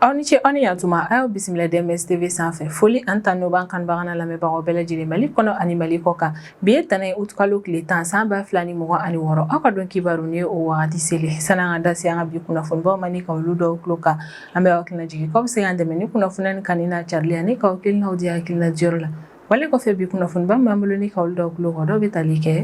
aw ni ce aw ni yan tuma a y'aw bisimila DMS tv sanfɛ foli ani tanu b'an kanubaga n'an lamɛnbagaw bɛɛ lajɛlen mali kɔnɔ ani mali kɔ kan bi ye ntɛnɛn ye utukalo tile tan san ba fila ni mugan ani wɔɔrɔ aw ka don kibaru ni ye o wagati selen sani an ka da se an ka bi kunnafonibaw ma ni ka olu d'aw tulo kan an bɛ aw hakili lajigin k'aw bɛ se k'an dɛmɛ ni kunnafoni in kanuni n'a carili ani k'aw hakilinaw di hakilina diyɔrɔ la Wale kɔfɛ bi kunnafoniba min b'an bolo ni ka olu d'aw tulo kan dɔw bɛ tali kɛ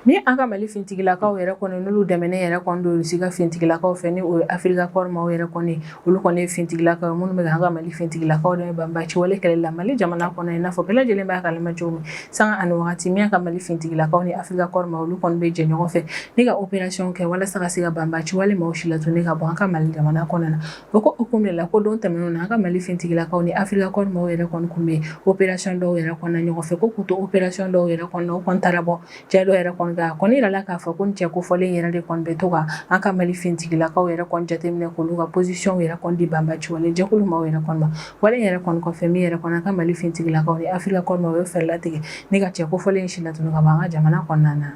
ni an ka mali fintigilakaw yɛrɛ kɔni n'olu dɛmɛnen yɛrɛ kɔni don rusi ka fintigilakaw fɛ ni o ye afirika kɔri maaw yɛrɛ kɔni olu kɔni ye fintigilakaw minnu bɛ an ka mali fintigilakaw dɛmɛ banbaanci wale kɛlɛ la mali jamana kɔnɔ i n'a fɔ bɛɛ lajɛlen b'a kalama cogo min sanga ani waati min ka mali fintigilakaw ni afirika kɔri maaw olu kɔni bɛ jɛ ɲɔgɔn fɛ ni ka opération kɛ walasa ka se ka banbaanci wale maaw silatunun ka bɔ an ka mali jamana kɔnɔ na O ko hukumu la ko don tɛmɛnenw na an ka mali fintigilakaw ni afirika kɔri maaw yɛrɛ kɔni tun bɛ opération dɔw yɛrɛ kɔnɔna ɲɔgɔn fɛ ko k'u to opération dɔw yɛrɛ kɔnɔ u taara bɔ cɛ dɔw yɛrɛ kɔni kan kɔni yirala k'a fɔ ko cɛ kofɔlen yɛrɛ de kɔni bɛ to ka an ka mali fintigilakaw yɛrɛ kɔni jateminɛ k'olu ka positionw yɛrɛ kɔni di banbaanci wale jɛkulu maaw yɛrɛ kɔni ma wale yɛrɛ kɔni kɔfɛ min yɛrɛ kɔni an ka mali fintigilakaw ni afirika kɔri maaw ye fɛɛrɛ latigɛ ni ka cɛ kofɔlen in silatunun ka bɔ an ka jamana kɔnɔna na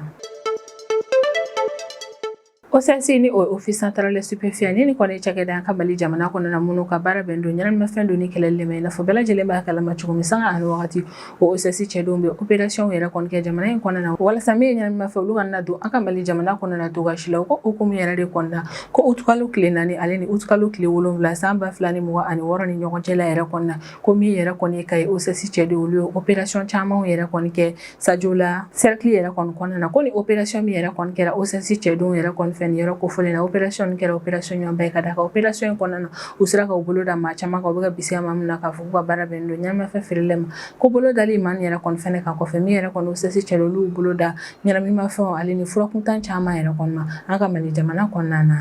OCS ni o ye Office Central des Stupéfiants ni ni kɔni cakɛda an ka mali jamana kɔnɔ na minnu ka baara bɛn don ɲɛnaminimafɛn donni kɛlɛli ma i n'a fɔ bɛɛ lajɛlen b'a kalama cogo min sanga ani wagati OCS cɛdenw bɛ opérationw yɛrɛ kɔni kɛ jamana in kɔnɔna na walasa min ye ɲɛnaminimafɛn olu kana don an ka mali jamana kɔnɔ na cogoya si la o ko hukumu yɛrɛ de kɔnɔna na ko utukalo tile naani ale ni utukalo tile wolonwula san ba fila ni mugan ani wɔɔrɔ ni ɲɔgɔn cɛla yɛrɛ kɔnɔna na ko min yɛrɛ kɔni kayi OCS cɛdenw olu ye opération caman yɛrɛ kɔni kɛ sajola sɛriki yɛrɛ kɔni kɔnɔna na ko ni opération min yɛrɛ kɔni kɛra OCS cɛdenw yɛrɛ kɔni fɛ ni yɔrɔ kofɔlen na opération kɛra opérationba ye ka da a kan opération in kɔnɔna na u sera ka bolo da maa caman kan u bɛ ka bisigiya maa min na k'a fɔ k'u ka baara bɛn don ɲɛnaminimafɛn feereli ma ko bolo dalen maa yɛrɛ kɔni kan kɔfɛ min yɛrɛ kɔni OCS cɛdenw olu bolo da ɲɛnaminimafɛn ale ni furakuntan caman yɛrɛ kɔni an ka mali jamana kɔnɔna na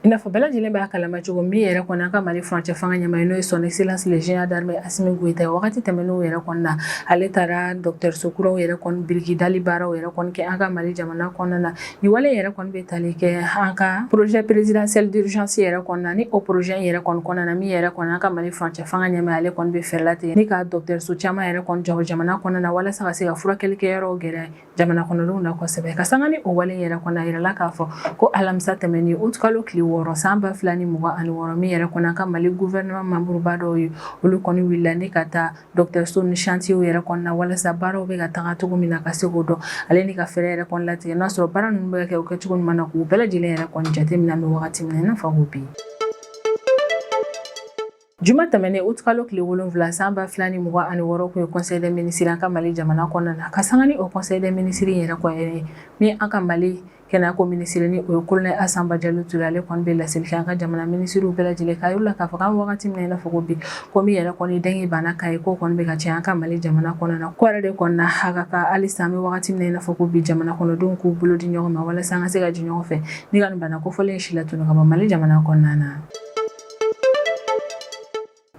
I n'a fɔ bɛɛ lajɛlen b'a kalama cogo min yɛrɛ kɔni an ka Mali furancɛ fanga ɲɛmaa n'o ye son excellence le général d'armée Asimi Goyita ye wagati tɛmɛnenw yɛrɛ kɔnɔna na ale taara dɔgɔtɔrɔso kuraw yɛrɛ kɔni biriki dali baaraw yɛrɛ kɔni kɛ an ka Mali jamana kɔnɔna na nin wale yɛrɛ kɔni bɛ tali kɛ an ka projet présidentiel d'urgence yɛrɛ kɔnɔna ni o projet yɛrɛ kɔni kɔnɔna na min yɛrɛ kɔni an ka Mali furancɛ fanga ɲɛmaa ale kɔni bɛ fɛɛrɛ latigɛ ni ka dɔgɔtɔrɔso caman yɛrɛ kɔni jɔ jamana kɔnɔna na walasa ka se ka furakɛli kɛ yɔrɔw gɛrɛ jamana kɔnɔdenw na kosɛbɛ ka sanga ni o wale yɛrɛ kɔni a yirala k'a fɔ ko alamisa tɛmɛnen utukalo tile wɔɔrɔ san ba fila ni mugan ani wɔɔrɔ min yɛrɛ kɔni an ka mali gouvernement membreba dɔw ye olu kɔni wulila ni ka taa dɔgɔtɔrɔso nin chantierw yɛrɛ kɔnɔna walasa baaraw bɛ ka taga cogo min na ka se k'o dɔn ale ni ka fɛɛrɛ yɛrɛ kɔni latigɛ n'a sɔrɔ baara ninnu bɛ ka kɛ u kɛcogo ɲuman na k'u bɛɛ lajɛlen yɛrɛ kɔni jateminɛna wagati min na i n'a fɔ ko bi Juma tɛmɛnen août kalo tile wolonwula san ba fila ni mugan ani wɔɔrɔ tun ye conseil des ministres an ka mali jamana kɔnɔna na ka san ni o conseil des ministres in yɛrɛ kɔni min an ka mali kɛnɛyako minisiri ni o ye colonel Assa Badiallo Touré ale kɔni bɛ laseli kɛ an ka jamana minisiriw bɛɛ lajɛlen k'a yira u la k'a fɔ an wagati min na i n'a fɔ bi ko min yɛrɛ kɔni dengue bana k'a yeko kɔni bɛ ka caya an ka mali jamana kɔnɔna na ko yɛrɛ de kɔni na a ka kan halisa an bɛ wagati min na i n'a fɔ ko bi jamana kɔnɔdenw k'u bolo di ɲɔgɔn ma walasa an ka se ka jɛ ɲɔgɔn fɛ ni ka bana kofɔlen si latunu ka bɔ mali jamana kɔnɔna na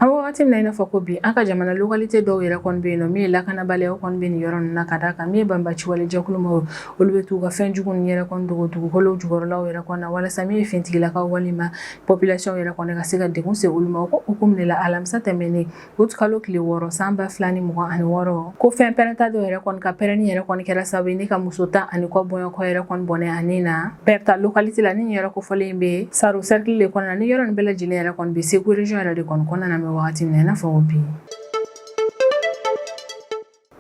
An wagati min na i n'a fɔ ko bi an ka jamana localité dɔw yɛrɛ kɔni bɛ yen nɔ min ye lakanabaliyaw kɔni bɛ nin yɔrɔ ninnu na ka d'a kan min ye banbaciwale jɛkulu maaw olu bɛ t'u ka fɛn jugu ninnu yɛrɛ kɔni dogo dugukolo jukɔrɔlaw yɛrɛ kɔni na walasa min ye fintigilakaw walima population yɛrɛ kɔni ka se ka degun se olu ma o ko hukumu de la alamisa tɛmɛnen août kalo tile wɔɔrɔ san ba fila ni mugan ani wɔɔrɔ ko fɛn pɛrɛnta dɔ yɛrɛ kɔni ka pɛrɛnni yɛrɛ kɔni kɛra sababu ye ni ka muso tan ani kɔ bɔɲɔgɔnko yɛrɛ kɔni bɔnɛ a ni na Berta localité la ni nin yɔrɔ kofɔlen bɛ Saro sɛrikili de kɔnɔna ni yɔrɔ nin bɛɛ lajɛlen yɛrɛ kɔni bɛ Segu region yɛrɛ de kɔni kɔnɔna na an bɛ wagati min na i n'a fɔ ko bi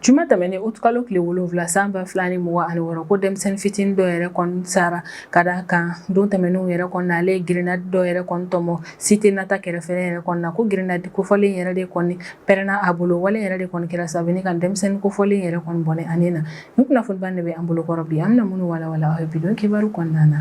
Juma tɛmɛnen août kalo tile wolonwula san ba fila ni mugan ani wɔɔrɔ ko denmisɛnnin fitinin dɔ yɛrɛ kɔni sara ka d'a kan don tɛmɛnenw yɛrɛ kɔni na ale ye grenade dɔ yɛrɛ kɔni tɔmɔ cité Nata kɛrɛfɛ yɛrɛ kɔni ko grenade kofɔlen yɛrɛ de kɔni pɛrɛnna a bolo wale yɛrɛ de kɔni kɛra sababu ni ka denmisɛnnin kofɔlen yɛrɛ kɔni bɔnɛ a ni na nin kunnafoniba de bɛ an bolokɔrɔ bi an bɛna minnu walawala aw ye bi don kibaru kɔnɔna na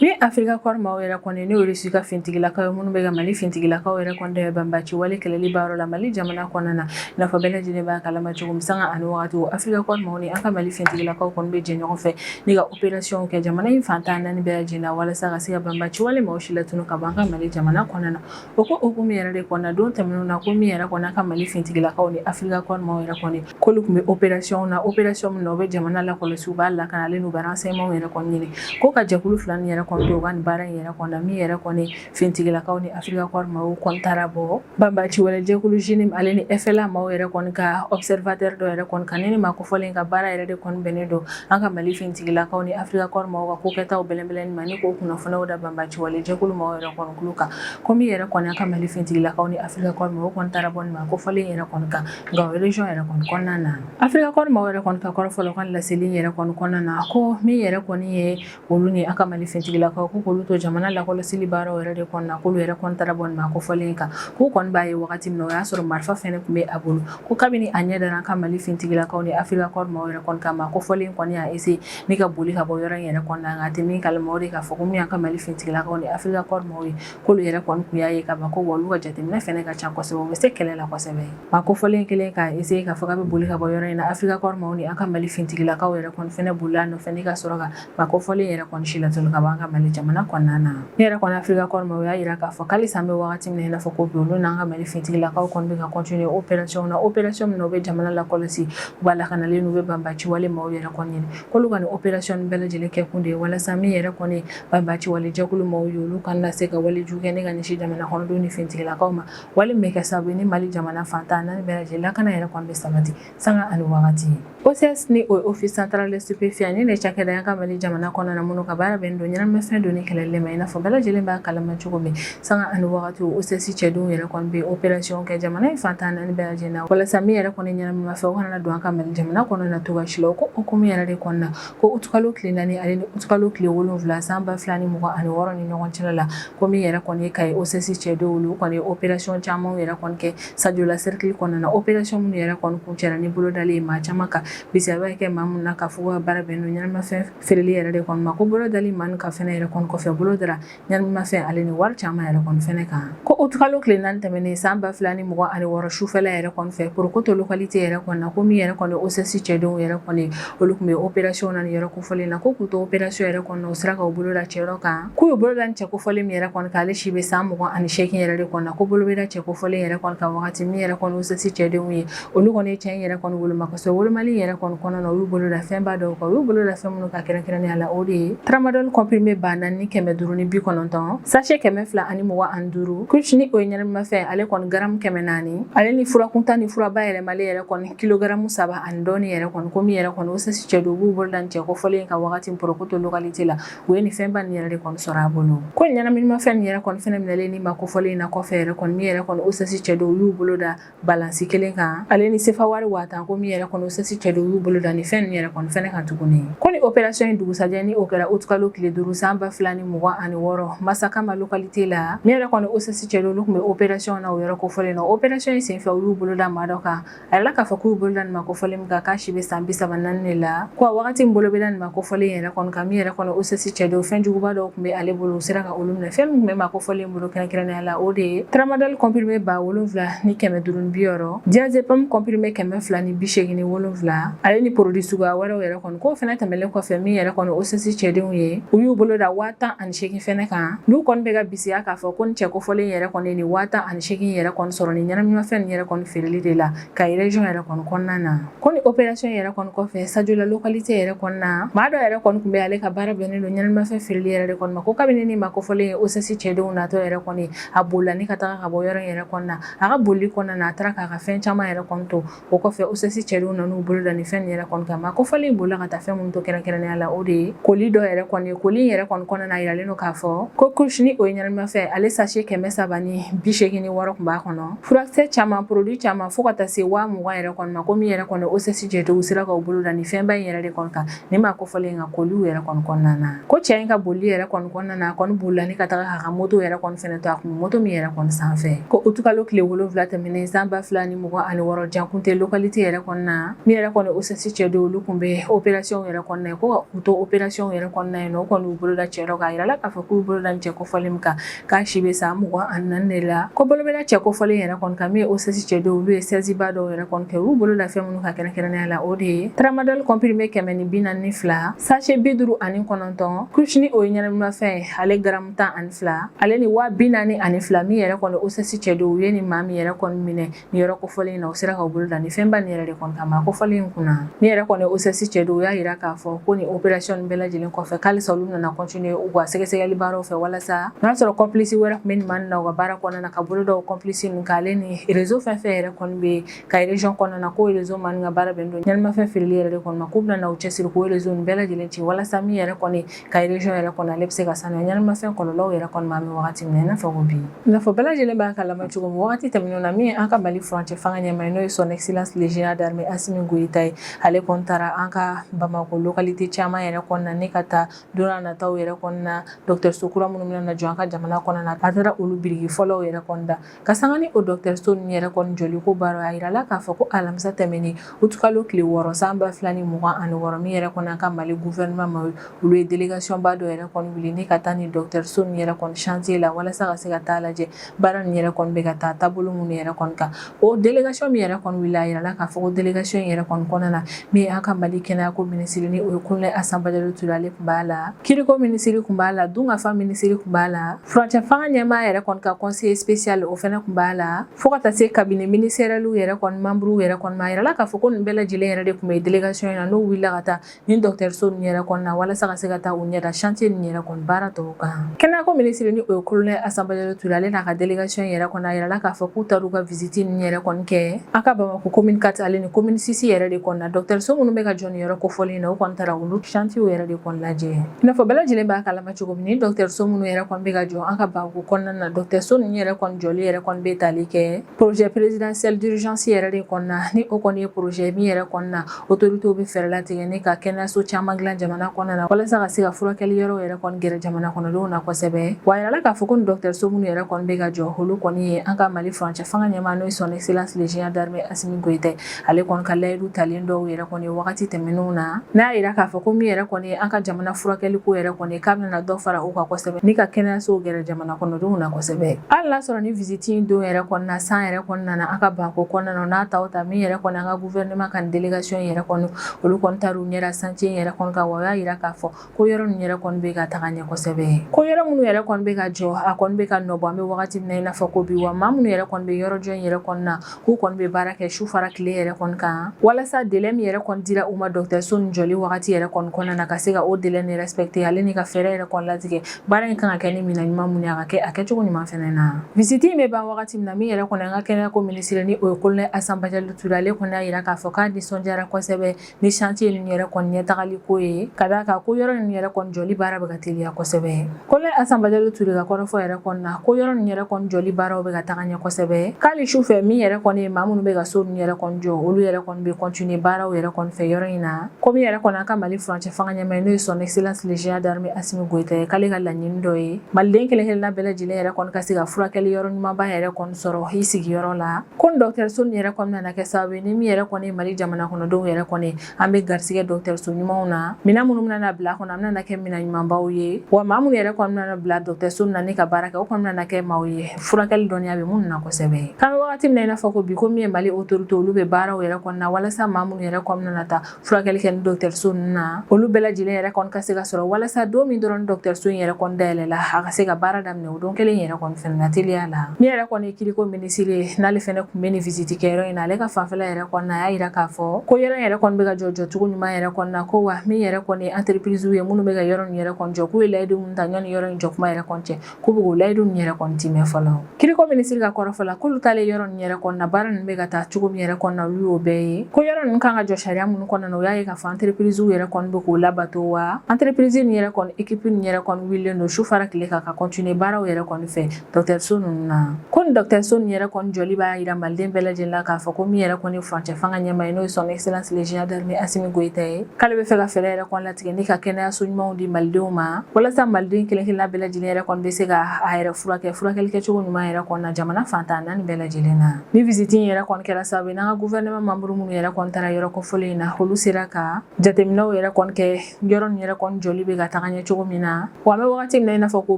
Ni Afrika Kɔri maaw yɛrɛ kɔni n'o ye Irisi ka finitigilakaw ye minnu bɛ ka Mali finitigilakaw yɛrɛ kɔni dɛmɛ banbaaci wale kɛlɛli baaraw la Mali jamana kɔnɔna na i n'a fɔ bɛɛ lajɛlen b'a kalama cogo min sanga ani wagati Afrika Kɔri maaw ni an ka Mali finitigilakaw kɔni bɛ jɛ ɲɔgɔn fɛ ni ka operation kɛ jamana in fan tan naani bɛɛ lajɛlen na walasa ka se ka banbaaci wale maaw si latunu ka bɔ an ka Mali jamana kɔnɔna na. O ko hukumu yɛrɛ de kɔnɔ don tɛmɛnenw na ko min yɛrɛ kɔni an ka mali fintigilakaw ni afirika kɔri maaw yɛrɛ kɔni k'olu tun bɛ operation na operation min na u bɛ jamana lakɔlɔsi u b'a lakana ale n'u bɛ renseignement yɛrɛ kɔni ɲini ko ka jɛkulu fila nin yɛrɛ kɔni to u ka nin baara in yɛrɛ kɔnɔ min yɛrɛ kɔni fintigilakaw ni afirika kɔri maaw kɔni taara bɔ banbaci wale jɛkulu JNIM ale ni FLA maaw yɛrɛ kɔni ka observateur dɔ yɛrɛ kɔni kan ni nin maa kofɔlen ka baara yɛrɛ de kɔni bɛnnen don an ka mali fintigilakaw ni afirika kɔri maaw ka kokɛtaw bɛlɛnbɛlɛnni ma ni k'o kunnafoniw da banbaci wale jɛkulu maaw yɛrɛ kɔni kulo kan ko min yɛrɛ kɔni an ka mali fintigilakaw ni afirika kɔri maaw kɔni taara bɔ nin maa kofɔlen yɛrɛ kɔni kan Gao region yɛrɛ kɔni kɔnɔna na afirika kɔri maaw yɛrɛ kɔni ka kɔrɔfɔfɔlɔ ka laseli yɛrɛ kɔni kɔnɔna na ko min yɛrɛ kɔni ye olu ni an ka mali fintigilakaw ko k'olu to jamana lakɔlɔsili baaraw yɛrɛ de kɔnɔna k'olu yɛrɛ kɔni taara bɔ nin maa kofɔlen kan k'u kɔni b'a ye wagati min na o y'a sɔrɔ marifa fɛnɛ tun bɛ a bolo ko kabini a ɲɛ dara an ka mali fintigilakaw ni afirika kɔri maaw yɛrɛ kɔni kan maa kofɔlen kɔni y'a essayer ni ka boli ka bɔ yɔrɔ in yɛrɛ kɔnɔna nka a tɛ min kalama o de k'a fɔ ko min ye an ka mali fintigilakaw ni afirika kɔri maaw ye k'olu yɛrɛ kɔni tun y'a ye ka ban ko wa olu ka jateminɛ fɛnɛ ka ca kosɛbɛ u bɛ se kɛlɛ la kosɛbɛ maa kofɔlen kelen k'a essayer k'a fɔ k'a bɛ boli ka bɔ yɔrɔ in na Afrika Corps maaw ni an ka Mali finitigilakaw yɛrɛ kɔni fɛnɛ bolila a nɔfɛ ni ka sɔrɔ ka maa kofɔlen yɛrɛ kɔni si latunu ka bɔ an ka Mali jamana kɔnɔna na ne yɛrɛ kɔni Afrika Corps maaw u y'a jira k'a fɔ k'alisa an bɛ wagati min na i n'a fɔ ko bi olu n'an ka Mali finitigilakaw kɔni bɛ ka continuer opération na opération min na u bɛ jamana lakɔlɔsi u b'a lakanalen don u bɛ banbaciwale maaw yɛrɛ kɔni ɲini k'olu ka nin opération bɛɛ lajɛlen kɛkun de ye walasa min yɛrɛ kɔni banbaciwale jɛkulu maaw ye olu kana se ka walejugu kɛ ne ka ɲɛsin jamana kɔnɔdenw ni fintigilakaw ma wale min bɛ kɛ sababu ye ni mali jamana fantan naani bɛɛ lajɛlen lakana yɛrɛ kɔni bɛ sabati sanga ani wagati ye OCS ni o ye office central de stupéfiant ni ne cakɛda y'an ka mali jamana kɔnɔna na minnu ka baara bɛnnen don ɲɛnamafɛn donni kɛlɛli ma i n'a fɔ bɛɛ lajɛlen b'a kalama cogo min sanga ani wagati OCS cɛdenw yɛrɛ kɔni bɛ opération kɛ jamana in fantan naani bɛɛ lajɛlen na walasa min yɛrɛ kɔni ɲɛnamafɛn o kana don an ka mali jamana kɔnɔna na cogoya si la o ko hukumu yɛrɛ de kɔnɔna ko utukalo tile naani ale ni utukalo tile wolonwula san ba fila ni mugan ani wɔɔrɔ ni ɲɔgɔn cɛla la ko min yɛrɛ kɔni ye ka ye OCS cɛdenw olu kɔni ye operasiyɔn caman yɛrɛ kɔni kɛ sajola serikili kɔnɔna na operasiyɔn minnu yɛrɛ kɔni kuncɛra ni bolodali ye maa caman kan bisiya bɛ kɛ maa minnu na k'a fɔ k'u ka baara bɛnnen don ɲɛnamafɛn feereli yɛrɛ de kɔni ma ko bolodali maa kan fɛnɛ yɛrɛ kɔni kɔfɛ bolo dara Ɲɛnamafɛn ale ni wari caman yɛrɛ kɔni fɛnɛ kan ko utukalo tile naani tɛmɛnen san ba fila ni mugan ani wɔɔrɔ sufɛla yɛrɛ kɔni fɛ porokoto localité yɛrɛ kɔni na ko min yɛrɛ kɔni OCS cɛdenw yɛrɛ kɔni olu tun bɛ opération na yɔrɔ kofɔlen na ko k'u to opération yɛrɛ kɔnɔ u sera ka bolo da cɛ dɔ kan k'u ye bolo da cɛ kofɔlen min yɛrɛ kɔni kan ale si bɛ san mugan ani seegin yɛrɛ de kɔnɔ ko bolo bɛ da cɛ kofɔlen yɛrɛ kɔni kan wagati min yɛrɛ kɔni OCS cɛdenw ye olu kɔni ye cɛ nin yɛrɛ kɔni woloma kosɛbɛ wolomali yɛrɛ kɔni kɔnɔna na olu bolo da fɛnba dɔw kan olu bolo da fɛn minnu kan kɛrɛnkɛrɛnnenya la o de ye tramadol comprimé ba naani ni kɛmɛ duuru ni bi kɔnɔntɔn sachet kɛmɛ fila ani mugan ani duuru kush ni o ye ɲɛnamimafɛn ale kɔni garamu kɛmɛ naani ale ni furakuntan ni fura bayɛlɛmali yɛrɛ kɔni kilogaramu saba ani dɔɔni yɛrɛ kɔni ko min yɛrɛ kɔni OCS cɛdenw b'u bolo da ni cɛ kofɔlen kan wagati porokoto localité la u ye ni fɛnba ni yɛrɛ de kɔni sɔrɔ a bolo ko ɲɛnaminimafɛn ni yɛrɛ kɔni fɛnɛ minɛlen ni maa kofɔlen na kɔfɛ yɛrɛ kɔni min yɛrɛ kɔni OCS cɛdenw y'u bolo da balansi kelen kan ale ni sefa wari waa tan ko min yɛrɛ kɔni OCS cɛdenw y'u bolo da ni fɛn nin yɛrɛ kɔni fɛnɛ kan tuguni ko ni operasiyɔn in dugusajɛ ni o kɛra utukalo tile duuru san ba fila ni mugan ani wɔɔrɔ masakama lokalite la min yɛrɛ kɔni OCS cɛdenw olu tun bɛ operasiyɔn na o yɔrɔ kofɔlen na operasiyɔn in senfɛ u y'u bolo da maa dɔ kan a yirala k'a fɔ k'u y'u bolo da nin maa kofɔlen min kan k'a si bɛ san bi saba naani de la ko a wagati min bolo bɛ da nin maa kofɔlen yɛrɛ kɔni kan min yɛrɛ kɔni OCS cɛdenw fɛn juguba dɔw tun bɛ ale bolo u sera ka olu minɛ fɛn min tun bɛ maa kofɔlen bolo kɛrɛnkɛrɛnnenya la o de ye tramadol comprimé ba wolonfila ni kɛmɛ duuru ni bi wɔɔrɔ diazepam comprimé kɛmɛ fila ni bi seegin ni wolonfila ale ni produit suguya wɛrɛw yɛrɛ kɔni k'o fɛnɛ tɛmɛlen kɔfɛ min yɛrɛ kɔni OCS cɛdenw ye u y'u bolo da waa tan ani seegin fɛnɛ kan n'u kɔni bɛ ka bisiya k'a fɔ ko ni cɛ kofɔlen yɛrɛ kɔni ye nin waa tan ani seegin yɛrɛ kɔni sɔrɔ ni ɲɛnaminimafɛn nin yɛrɛ kɔni feereli de la Kayi région yɛrɛ kɔni kɔnɔna na ko ni opération yɛrɛ kɔni kɔfɛ Sadiola localité yɛrɛ kɔnɔna na maa dɔ yɛrɛ kɔni tun bɛ ale ka baara bɛnnen don ɲɛnaminimafɛn feereli yɛrɛ de kɔni ma ko kabini ni maa kofɔlen ye OCS cɛdenw natɔ yɛrɛ kɔni a bolila ni ka taga ka bɔ yɔrɔ in yɛrɛ kɔnɔna na a ka bolili kɔnɔna na a taara k'a ka fɛn caman yɛrɛ kɔni to o kɔfɛ OCS cɛdenw nan'u bolo da nin fɛn nin yɛrɛ kɔni kan maa kofɔlen bolila ka taa fɛn minnu to kɛrɛnkɛrɛnnenya la o de ye koli dɔ yɛrɛ kɔni ye koli in yɛrɛ kɔni kɔnɔna na a yiralen don k'a fɔ ko kush ni o ye ɲɛnaminimafɛn ale sachet kɛmɛ saba ni bi seegin ni wɔɔrɔ tun b'a kɔnɔ Furakisɛ caman produit caman fo ka taa se waa mugan yɛrɛ kɔni ma ko min yɛrɛ kɔni OCS cɛdenw sera ka u bolo da ni fɛnba in yɛrɛ de kɔni kan ni maa kofɔlen in ka koli yɛrɛ kɔnɔna na ko cɛ in ka boli yɛrɛ kɔnɔna na a kɔni bolila ni ka taa a ka moto yɛrɛ kɔni to a kɔ moto min yɛrɛ kɔni sanfɛ ko utukalo tile wolo wolonwula tɛmɛnen san ba fila ni mugan ani wɔɔrɔ Diangounté localité yɛrɛ kɔnɔna na min yɛrɛ kɔni OCS cɛdenw olu tun bɛ opération yɛrɛ kɔnɔna ye ko u to opération yɛrɛ kɔnɔna ye o kɔni u bolo da cɛ dɔ kan a yirala k'a fɔ k'u bolo da cɛ kofɔlen min kan k'a si bɛ san mugan ani naani de la ko bolo bɛ da cɛ kofɔlen yɛrɛ kɔni kan min ye OCS cɛdenw olu ye saisie ba dɔw yɛrɛ kɔni kɛ olu bolo da fɛn minnu kan kɛrɛnkɛrɛnnenya la o de ye tramadol comprimé kɛmɛ ni bi naani ni fila sachet bi duuru ani kɔnɔntɔn kush ni o ye ɲɛnaminimafɛn ale garamu tan ani fila ale ni waa bi naani ani fila min yɛrɛ kɔni OCS cɛdenw u ye ni maa min yɛrɛ kɔni minɛ ni yɔrɔ kofɔlen in na u sera ka bolo da ni fɛnba ni yɛrɛ de kɔni kan maa kofɔlen in kunna min yɛrɛ kɔni OCS cɛdenw u y'a yira k'a fɔ ko ni opération bɛɛ lajɛlen kɔfɛ k'alisa olu bɛna na continuer u ka sɛgɛsɛgɛli baaraw fɛ walasa n'a y'a sɔrɔ complice wɛrɛ tun bɛ maa ninnu ka baara kɔnɔna na ka bolo da o complice ninnu kan ale ni réseau fɛn fɛn yɛrɛ kɔni bɛ Kayi région kɔnɔna na ko réseau minnu ka baara bɛnnen don ɲɛnaminimafɛn feereli yɛrɛ de kɔni ma k'u bɛna na u cɛsiri k'o réseau bɛɛ lajɛlen ci walasa min yɛrɛ kɔni Kayi région yɛrɛ kɔni ale bɛ se ka sanuya ɲɛnaminimafɛn kɔlɔlɔw yɛrɛ kɔni ma an bɛ wagati min na i n'a fɔ ko bi i n'a fɔ bɛɛ lajɛlen b'a kalama cogo min wagati tɛmɛnenw na min an ka Mali furancɛ fanga ɲɛmaa n'o ye son excellence le général d'armée Assimi Goïta ye ale kɔni taara an ka Bamako localité caman yɛrɛ kɔnɔna ni ka taa don nataw yɛrɛ kɔnɔna dɔgɔtɔrɔso kura minnu bɛna na jɔ an ka jamana kɔnɔna a taara olu biriki fɔlɔw yɛrɛ kɔni da ka sanga ni o dɔgɔtɔrɔso ninnu yɛrɛ kɔni jɔli ko baro a yirala k'a fɔ ko alamisa tɛmɛnen utukalo tile wɔɔrɔ san ba fila ni mugan ani wɔɔrɔ min yɛrɛ kɔni an ka Mali gouvernement maaw olu ye délégation ba dɔ yɛrɛ kɔni wuli ni ka taa ni dɔgɔtɔrɔso ninnu yɛrɛ kɔni chantier la walasa ka se ka taa lajɛ baara ninnu yɛrɛ kɔni bɛ ka taa taabolo minnu yɛrɛ kɔni kan o délégation min yɛrɛ kɔni wuli a yirala k'a fɔ ko délégation in yɛrɛ kɔni kɔnɔna na min an ka Mali kɛnɛyako minisiri ni o ye colonel Assa Badiallo Touré ale tun b'a la kiiriko minisiri tun b'a la dunkafa minisiri tun b'a la Furancɛ fanga ɲɛmaa yɛrɛ kɔni ka conseiller spécial o fɛnɛ tun b'a la fo ka taa se cabinet ministériel yɛrɛ kɔni membres yɛrɛ kɔni ma a yirala k'a fɔ ko nin bɛɛ lajɛlen yɛrɛ de tun bɛ délégation in na n'o wulila ka taa nin dɔgɔtɔrɔso ninnu yɛrɛ kɔni na walasa ka se ka taa u ɲɛda chantier ninnu yɛrɛ kɔni baara tɔw kan kɛnɛyako minisiri ni o ye colonel Assa Badiallo Touré ale n'a ka délégation yɛrɛ kɔni a yirala k'a fɔ k'u taar'u ka visite ninnu yɛrɛ kɔni kɛ an ka Bamakɔ commune 4 ale ni commune 6 yɛrɛ de kɔni na dɔgɔtɔrɔso minnu bɛ ka jɔ nin yɔrɔ kofɔlen in na u kɔni taara olu chantiers yɛrɛ de kɔni lajɛ i n'a fɔ bɛɛ lajɛlen b'a kalama cogo min ni dɔgɔtɔrɔso minnu yɛrɛ kɔni bɛ ka jɔ an ka Bamako kɔnɔna na dɔgɔtɔrɔso ninnu yɛrɛ kɔni jɔli yɛrɛ kɔni bɛ tali kɛ projet présidentiel d'urgence yɛrɛ de kɔnɔna ni o kɔni ye projet min yɛrɛ kɔnɔna autoritéw bɛ fɛɛrɛ latigɛ ni ka kɛnɛyaso caman dilan jamana kɔnɔna na walasa ka se ka furakɛli yɔrɔw yɛrɛ kɔni gɛrɛ jamana kɔnɔdenw na kosɛbɛ wa yirala k'a fɔ ko ni dɔgɔtɔrɔso minnu yɛrɛ kɔni bɛ ka jɔ olu kɔni ye an ka Mali furancɛ fanga ɲɛmaa n'o ye son excellence le général d'armée Assimi Goïta ye ale kɔni ka layidu talen dɔw yɛrɛ kɔni wagati tɛmɛnenw na n'a yira k'a fɔ ko min yɛrɛ kɔni an ka jamana furakɛli ko yɛrɛ kɔni k'a bɛna dɔ fara u kan kosɛbɛ ni ka kɛnɛyasow gɛrɛ jamana kɔnɔdenw na kosɛbɛ hali n'a sɔrɔ ni visite in don yɛrɛ kɔnɔna san yɛrɛ kɔnɔna na an ka Bamako kɔnɔna n'a ta ta min yɛrɛ kɔni an ka gouvernement ka nin délégation yɛrɛ kɔni olu kɔni taara u ɲɛda chantier yɛrɛ kɔni kan wa u y'a yira k'a fɔ ko yɔrɔ ninnu yɛrɛ kɔni bɛ ka taga ɲɛ kosɛbɛ ko yɔrɔ minnu yɛrɛ kɔni bɛ ka jɔ a kɔni bɛ ka nɔbɔ an bɛ wagati min na i n'a fɔ ko bi wa maa minnu yɛrɛ kɔni bɛ yɔrɔ jɔ in yɛrɛ kɔni na k'u kɔni bɛ baara kɛ su fara tile yɛrɛ kɔni kan walasa délai min yɛrɛ kɔni dira u ma dɔgɔtɔrɔso nin jɔli wagati yɛrɛ kɔni kɔnɔna na ka se ka o délai nin respecter ale ni ka fɛɛrɛ yɛrɛ kɔni latigɛ baara in kan ka kɛ ni minɛn ɲuman minnu ye a ka kɛ a kɛcogo ɲuman fɛnɛ na visite in bɛ ban wagati min na min yɛrɛ kɔni an ka kɛnɛyako minisiri ni o ye Colonel Assa Badiallo Touré ale kɔni y'a yira k'a fɔ k'a nisɔndiyara kosɛbɛ ni chantier ninnu yɛrɛ kɔni ɲɛtagali ko ye ka d'a kan ko yɔrɔ ninnu yɛrɛ kɔni jɔli baara bɛ ka teliya kosɛbɛ Colonel Assa Badiallo Touré ka kɔrɔfɔ yɛrɛ kɔni na ko yɔrɔ ninnu yɛrɛ kɔni jɔli baaraw bɛ ka taga ɲɛ kosɛbɛ k'ali su fɛ min yɛrɛ kɔni ye maa minnu bɛ ka so ninnu yɛrɛ kɔni jɔ olu yɛrɛ kɔni bɛ continuer baaraw yɛrɛ kɔni fɛ yɔrɔ in na ko min yɛrɛ kɔni an ka Mali furancɛ fanga ɲɛmaa n'o ye son excellence le général d'armée Assimi Goïta ye k'ale ka laɲini dɔ ye maliden kelen kelenna bɛɛ lajɛlen yɛrɛ kɔni ka se ka furakɛli yɔrɔ ɲumanba yɛrɛ kɔni sɔrɔ i sigiyɔrɔ la ko ni dɔgɔtɔrɔso nin yɛrɛ kɔni bɛna kɛ sababu ye ni min yɛrɛ kɔni ye Mali jamana kɔnɔdenw yɛrɛ kɔni an bɛ garisigɛ dɔgɔtɔrɔso ɲumanw na minɛn minnu bɛna bila kɔnɔ an bɛna kɛ minɛn ɲumanbaw ye wa maa minnu yɛrɛ kɔni bɛna bila dɔgɔtɔrɔso na ni ka baara kɛ o kɔni bɛna kɛ maaw ye furakɛli dɔnniya bɛ minnu na kosɛbɛ k'an bɛ wagati min na i n'a fɔ ko bi ko min ye Mali autorité olu bɛ baaraw yɛrɛ kɔni na walasa maa minnu yɛrɛ kɔni bɛna taa furakɛli kɛ ni dɔgɔtɔrɔso ninnu na olu bɛɛ lajɛlen yɛrɛ kɔni ka se ka sɔrɔ walasa don min dɔrɔn dɔgɔtɔrɔso in yɛrɛ kɔni dayɛlɛla a ka se ka baara daminɛ o don kelen yɛrɛ kɔni fɛnɛ na teliya la min yɛrɛ kɔni ye kiriko minisiri ye n'ale fɛnɛ tun bɛ nin visite kɛyɔrɔ in na ale ka fanfɛla yɛrɛ kɔni na a y'a yira k'a fɔ ko yɔrɔ in yɛrɛ kɔni bɛ ka jɔ jɔcogo ɲuman yɛrɛ kɔni na ko wa min yɛrɛ kɔni ye entreprisew ye minnu bɛ ka yɔrɔ in yɛrɛ kɔni jɔ k'u ye layidu minnu ta ɲɔni yɔrɔ in jɔ kuma yɛrɛ kɔni cɛ k'u bɛ k'o layidu nin yɛrɛ kɔni timɛ fɔlɔ kiriko minisiri ka kɔrɔfɔ la k'olu taalen yɔrɔ nin yɛrɛ kɔni na baara ninnu bɛ ka taa cogo min yɛrɛ kɔni na olu y'o bɛɛ ye ko yɔrɔ ninnu kan ka jɔ sariya minnu kɔnɔna na u y'a ye k'a fɔ entreprisew yɛrɛ kɔni bɛ k'o labato wa entreprise nin yɛrɛ kɔni équipe nin yɛrɛ kɔni wulilen don su fara tile kan ka continuer baaraw yɛrɛ kɔni fɛ dɔgɔtɔrɔso ninnu na ko nin dɔgɔtɔrɔso nin yɛrɛ kɔni jɔli b'a yira maliden bɛɛ lajɛlen la k'a fɔ ko min yɛrɛ kɔni furancɛ fanga ɲɛmaa ye n'o ye son excellence le général d'armée Assimi Goïta ye k'ale bɛ fɛ ka fɛɛrɛ yɛrɛ kɔni tigɛ ni ka kɛnɛyaso ɲumanw di malidenw ma walasa maliden kelenkelenna bɛɛ lajɛlen yɛrɛ kɔni bɛ se ka a yɛrɛ furakɛ furakɛli kɛcogo ɲuman yɛrɛ kɔni na jamana fan tan naani bɛɛ lajɛlen na ni visite yɛrɛ kɔni kɛra sababu n'an ka gouvernement membre minnu yɛrɛ kɔni taara yɔrɔ kɔfɔlen in na olu sera ka jateminɛw yɛrɛ kɔni kɛ yɔrɔ nin yɛrɛ kɔni jɔli bɛ ka taga ɲɛ cogo min na Wa an bɛ wagati min na i n'a fɔ ko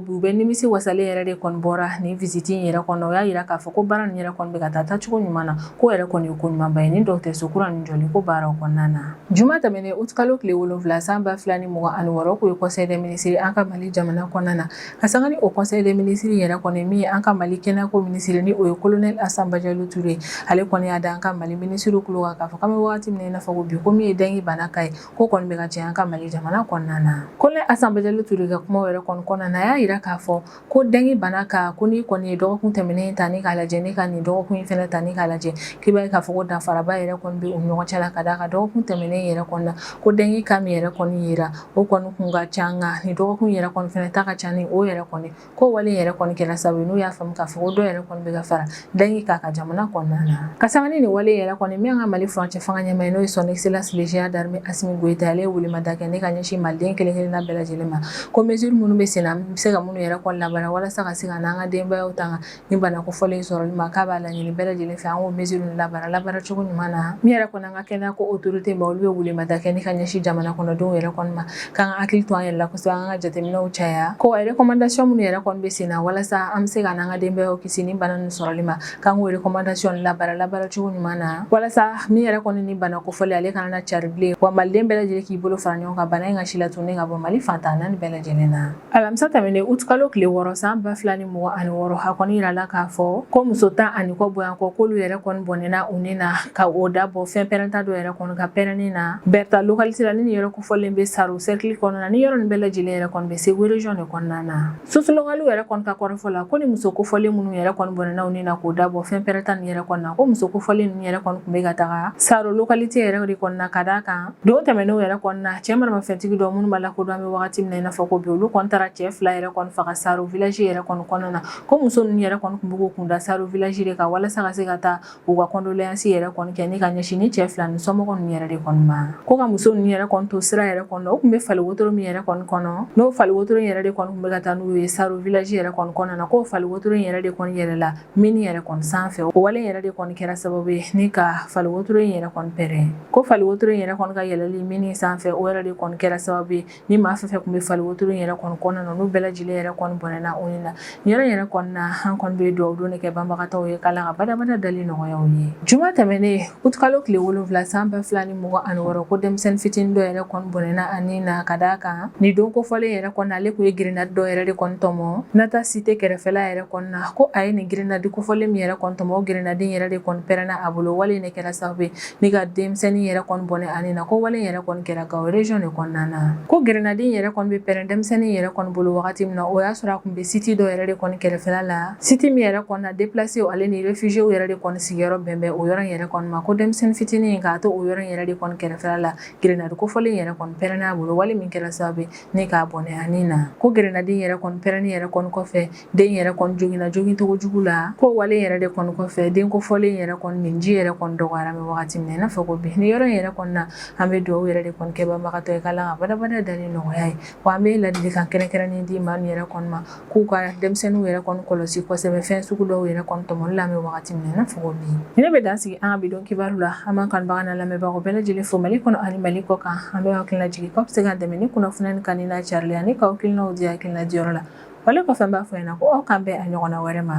bi u bɛ nimisi wasalen yɛrɛ de kɔni bɔra nin visite in yɛrɛ kɔnɔ o y'a jira k'a fɔ ko baara nin yɛrɛ kɔni bɛ ka taa taacogo ɲuman na ko yɛrɛ kɔni ye ko ɲumanba ye nin dɔgɔtɔrɔso kura nin jɔli ko baaraw kɔnɔna na juma tɛmɛnen août kalo tile wolonwula san ba fila ni mugan ani wɔɔrɔ k'o ye conseil des ministres an ka mali jamana kɔnɔna na ka sanga ni o conseil des ministres yɛrɛ kɔni min ye an ka mali kɛnɛyako minisiri ni o ye colonel Assa Badiallo Touré ale kɔni y'a da an ka mali minisiriw tulo kan k'a fɔ k'an bɛ wagati min na i n'a fɔ ko bi ko min ye dengue bana cas ye k'o kɔni bɛ ka caya an ka mali jamana kɔnɔna na colonel Assa Badiallo Touré ka kuma yɛrɛ kɔni kɔnɔna na a y'a jira k'a fɔ ko dengue bana cas ko n'i kɔni ye dɔgɔkun tɛmɛnen ta ni k'a lajɛ ne ka nin dɔgɔkun in fana ta ni k'a lajɛ k'i b'a ye k'a fɔ ko danfaraba yɛrɛ kɔni bɛ u ni ɲɔgɔn cɛ la ka d'a kan dɔgɔkun tɛmɛnen yɛrɛ kɔnɔna na ko dengue cas min yɛrɛ kɔni yira o kɔni kun ka ca nka nin dɔgɔkun yɛrɛ kɔni fana ta ka ca ni o yɛrɛ kɔni ko wale yɛrɛ kɔni kɛra sababu ye n'u y'a faamu k'a fɔ ko dɔ yɛrɛ kɔni bɛ ka fara dengue cas kan jamana kɔnɔna na ka sanga ni nin wale yɛrɛ kɔni min ye an ka mali furancɛ fanga ɲɛmaa ye n'o ye son excellence le général d'armée Assimi Goïta ale ye welemada kɛ ne ka ɲɛsin maliden kelen kelenna bɛɛ lajɛlen ma ko mesure minnu bɛ sen na an bɛ se ka minnu yɛrɛ kɔni labaara walasa ka se ka n'an ka denbayaw tanga ni bana kofɔlen sɔrɔli ma k'a b'a laɲini bɛɛ lajɛlen fɛ an k'o mesure labaara labaaracogo ɲuman na min yɛrɛ kɔni an ka kɛnɛya ko autorité ma olu bɛ welemada kɛ ne ka ɲɛsin jamana kɔnɔdenw yɛrɛ kɔni ma k'an k'an hakili to an yɛrɛ la kosɛbɛ an ka jateminɛw caya ko recommandation minnu yɛrɛ kɔni bɛ sen na walasa an bɛ se ka an ka denbayaw kisi ni bana ninnu sɔrɔli ma k'an k'o recommandation labaara labaaracogo ɲuman na walasa min yɛrɛ kɔni ni bana kofɔlen ale kana cari bilen wa maliden bɛɛ lajɛlen k'i bolo fara ɲɔgɔn kan bana in ka silatunun ka bɔ mali fan tan ni naani bɛɛ lajɛlen na alamisa tɛmɛnen utikalo tile wɔɔrɔ san ba fila ni mugan ani wɔɔrɔ a kɔni yirala k'a fɔ ko muso tan ani kɔ bɔɲɔgɔnko k'olu yɛrɛ kɔni bɔnɛna u ni na ka o da bɔ fɛn pɛrɛnta dɔ yɛrɛ kɔni ka pɛrɛnni na bɛrita lokalite la ni nin yɔrɔ kofɔlen bɛ saro sɛrikili kɔnɔna ni yɔrɔ nin bɛɛ lajɛlen yɛrɛ kɔni bɛ segu region de kɔnɔna na sources locales yɛrɛ kɔni ka kɔrɔfɔ la ko ni muso kofɔlen minnu yɛrɛ kɔni bɔnɛna u ni na k'o da bɔ fɛn pɛrɛnta nin yɛrɛ kɔni na ko muso kofɔlen ninnu yɛrɛ kɔni tun bɛ ka taga saro lokalite yɛrɛ de kɔnɔna ka d'a kan Don tɛmɛnenw yɛrɛ kɔnɔna na cɛ maramafɛntigi dɔ minnu ma lakodɔn an bɛ waati min na i n'a fɔ ko bi olu kɔni taara cɛ fila yɛrɛ kɔni faga saro village yɛrɛ kɔnɔna na ko muso ninnu yɛrɛ kɔni tun b'u kunda saro village de kan walasa ka se ka taa u ka kɔndolasi yɛrɛ kɔni kɛ ne ka ɲɛsin ni cɛ fila ni somɔgɔ ninnu yɛrɛ de kɔni ma ko ka muso ninnu yɛrɛ kɔni to sira yɛrɛ kɔnɔ u tun bɛ fali wotoro min yɛrɛ kɔni kɔnɔ n'o fali wotoro yɛrɛ de kɔni tun bɛ ka taa n'u ye saro village yɛrɛ kɔnɔna na k'o fali wotoro yɛrɛ de kɔni yɛlɛla mine yɛrɛ kɔni sanfɛ o wale yɛrɛ de kɔni kɛra sababu ye ne ka fali wotoro in yɛrɛ kɔni pɛrɛn ko fali wotoro in yɛrɛ kɔni ka yɛlɛli mine sanfɛ o yɛrɛ de kɔni kɛra sababu ye ni maa fɛn fɛn tun bɛ fali wotoro in yɛrɛ kɔni kɔnɔna na n'u bɛɛ lajɛlen yɛrɛ kɔni bɔnɛna u ni na nin yɔrɔ yɛrɛ kɔni na an kɔni bɛ dugawu don de kɛ banbagatɔw ye k'ala ka badabada dali nɔgɔya u ye juma tɛmɛnen Uti kalo tile wolonwula san ba fila ni mugan ni wɔɔrɔ ko denmisɛnnin fitinin dɔ yɛrɛ kɔni bɔnɛna ani na ka d'a kan nin don kofɔlen yɛrɛ kɔni ale tun ye grenade dɔ yɛrɛ de kɔni tɔmɔ Naata cité kɛrɛfɛla yɛrɛ kɔni na ko a ye nin grenade kofɔlen min yɛrɛ kɔni tɔmɔ grenade yɛrɛ de kɔni pɛrɛnna a bolo wale nin kɛra sababu ye ni ka denmisɛnnin yɛrɛ kɔni bɔnɛ ani na ko wale yɛrɛ kɔni kɛra Gao région de kɔnɔna na ko grenade yɛrɛ kɔni bɛ pɛrɛn denmisɛnnin yɛrɛ kɔni bolo wagati min na o y'a sɔrɔ a tun bɛ site dɔ yɛrɛ de kɔni kɛrɛfɛla la Site min yɛrɛ kɔni na déplacés ale ni réfugiés yɛrɛ de kɔni sigiyɔrɔ bɛ bɛn o yɔrɔ in yɛrɛ kɔni ma ko denmisɛnnin fitinin in k'a to o yɔrɔ in yɛrɛ de kɔni kɛrɛfɛla la grenade kofɔlen in yɛrɛ kɔni pɛrɛnna a bolo wale min kɛra sababu ye ni k'a bɔnɛ ani na ko grenade yɛrɛ kɔni pɛrɛnni yɛrɛ kɔni kɔfɛ den yɛrɛ kɔni joginna jogincogo jugu la ko wale yɛrɛ de kɔni kɔfɛ den kofɔlen yɛrɛ kɔni minji yɛrɛ kɔni dɔgɔyara an bɛ wagati min na i n'a fɔ ko bi ni yɔrɔ in yɛrɛ kɔni na an bɛ dugawu yɛrɛ de kɔni kɛ banbagatɔ ye k'Ala k'a badabada dali nɔgɔya a ye wa an bɛ ladilikan kɛrɛnkɛrɛnnen di maa yɛrɛ kɔni ma k'u ka denmisɛnninw yɛrɛ kɔni kɔlɔsi kosɛbɛ fɛn sugu dɔw yɛrɛ kɔni tɔmɔli la an bɛ wagati min na i n'a fɔ ko bi ne bɛ dan sigi an ka bidon kibaru la an b'an kanubaga n'an lamɛnbagaw bɛɛ lajɛlen fo Mali kɔnɔ ani Mali kɔ kan an bɛ aw hakilina jigin k'aw bɛ se k'an dɛmɛ ni kunnafoniya nin kanuni n'a carili ani k'aw hakilinaw di hakilina diyɔrɔ la wale kɔfɛ n b'a fɔ ɲɛna ko aw k'an bɛn a ɲɔgɔnna wɛrɛ ma